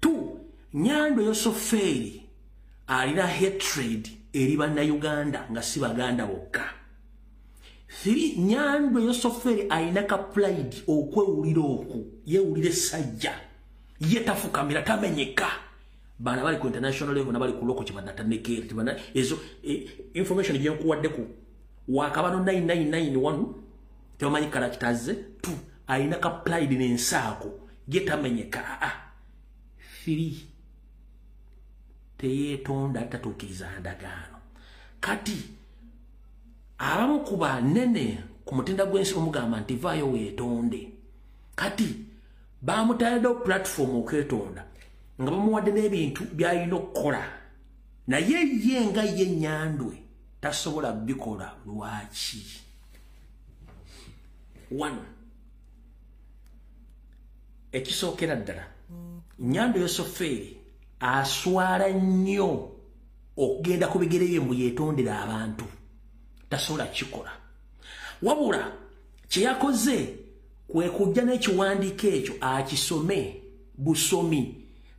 t nyando yosofeeri alina hatred eri bannauganda nga si baganda bokka three nyando yosofeeri alina ka pride okwewulira oku yewulira essajja ye tafukamira tamenyeka bana bali ku international level nabali ku loko kibanda tanekeri tibana ezo e, information gye nkuwadde ku wakabano 9991 tebamanyi kala kitaze tu alina ka pride n'ensaako ye tamenyeka aa ah, ah. firi teyetonda tatuukiriza ndagaano kati abamu ku banene ku mutenda gw'ensi omugamba nti vaayo weetonde kati bamutayaddewo pulatifomu okwetonda nga bamuwadde n'ebintu by'alina okukola naye ye nga ye nyandwe tasobola bikola lwaki one ekisookera ddala nyando yosofeeri aswala nnyo okugenda ku bigere bye mbu yetondera abantu tasobola kikola wabula kye yakoze kwe kujja n'ekiwandiiko ekyo akisome busomi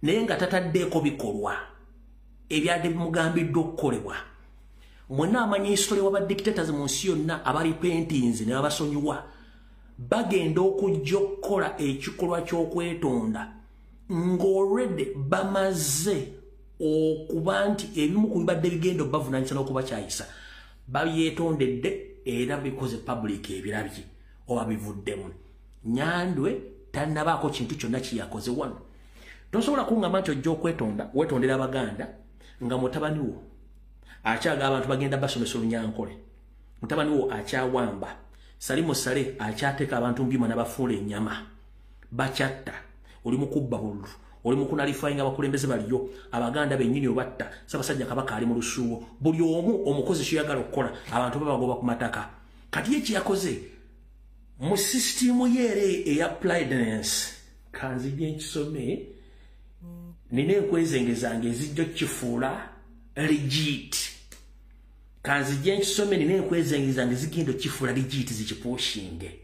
naye nga tataddeeko bikolwa ebyadde bimugambiddwa okukolebwa mwenna amanya isitole wa badictators mu nsi yonna abalipentinze ne babasonyiwa bagenda okujja okukola ekikolwa ky'okwetonda ng'olwedde bamaze okuba nti ebimu ku bibadde bigenda obavunanyisa n'okubakyayisa babyetondedde era bikoze public ebirabye oba bivuddemu nyandwe tanabaako kintu kyonna kyeyakoze wano tosobola kungamba nti ojja okwetonda wetondera abaganda nga mutabani wo akyaga abantu bagenda basomesa olunyankole mutabani wo akyawamba salimu sale akyateka abantu mbyuma nabafuula enyama bakyatta oli mukubba bululu oli mukunalifayinga abakulembeze baliyo abaganda benyini obatta sabasajja kabaka ali mu lusuuwo buli omu omukozi kyoyagala okukola abantu babagoba ku mataka kati ye kyeyakoze mu sisitimu yeere eya plidenance kanzija enkisome nina enkwezengezange ezijja okukifuula legit kanzijje nkisome nina enkwezengiza nge zigenda okifula ligiiti zikipuushinge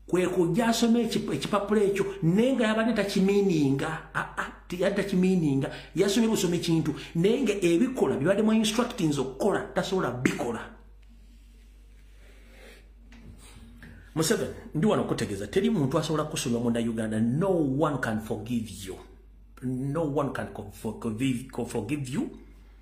kwekujja asoma ekipapula ekyo naye nga yabadde takimiininga aa ah, ah, yali takimiininga yasomye busoma ekintu naye nga ebikola bibadde mu instructings okukola tasobola bikola museven ndi wano okutegeeza teri muntu asobola kusoma munda uganda no one can forgive you no one can forgive you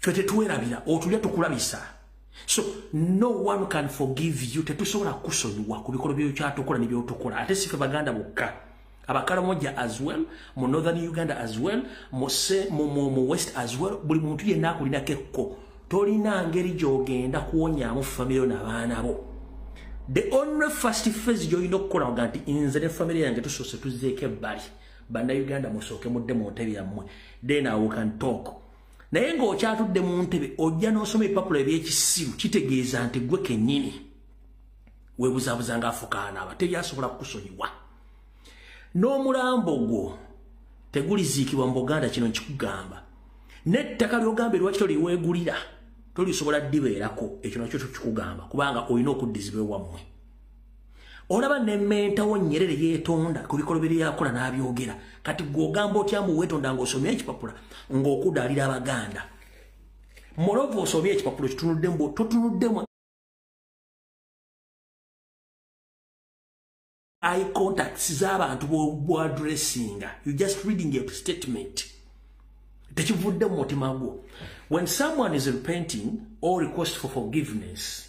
ffe tetwerabira otulya tukulabisa so no one can forgive you tetusobola kusonyiwa ku bikolo byokyatukola nebyotukola ate sife baganda bokka abakalamoja as well mu northern uganda as well mu west as well buli muntu yenna akulinako ekko tolina ngeri gyogenda kuwonyamu famire nabaana bo the only first phase gyolina okukola nga nti nze ne famire yange tusoose tuzeeko ebbali banda uganda musooke mudde mu ntebe yammwe then i can talk naye ng'okyatudde mu ntebe ojja n'osoma ebipapula eby'ekisiru kitegeeza nti gwe kennyini webuzabuza ng'afukaana aba teri asobola kukusonyiwa n'omulambo gwo teguliziikibwa mu buganda kino nkikugamba n'ettaka ly'ogamba eriwaki toliweegulira tolisobola dibeerako ekyo nakyo kikugamba kubanga olina okuddizibwa ewammwe olaba nementawo nyerere yetonda ku bikolo biri yakola n'abyogera kati gwogamba otya mbu wetonda ng'osomye ekipapula ng'okudaalira abaganda morovu osomye ekipapula kitunudde mbu totunuddemu i contacts z'abantu bwadressinga you just reading a statement tekivudde mu mutima gwo when someone is repenting or request for forgiveness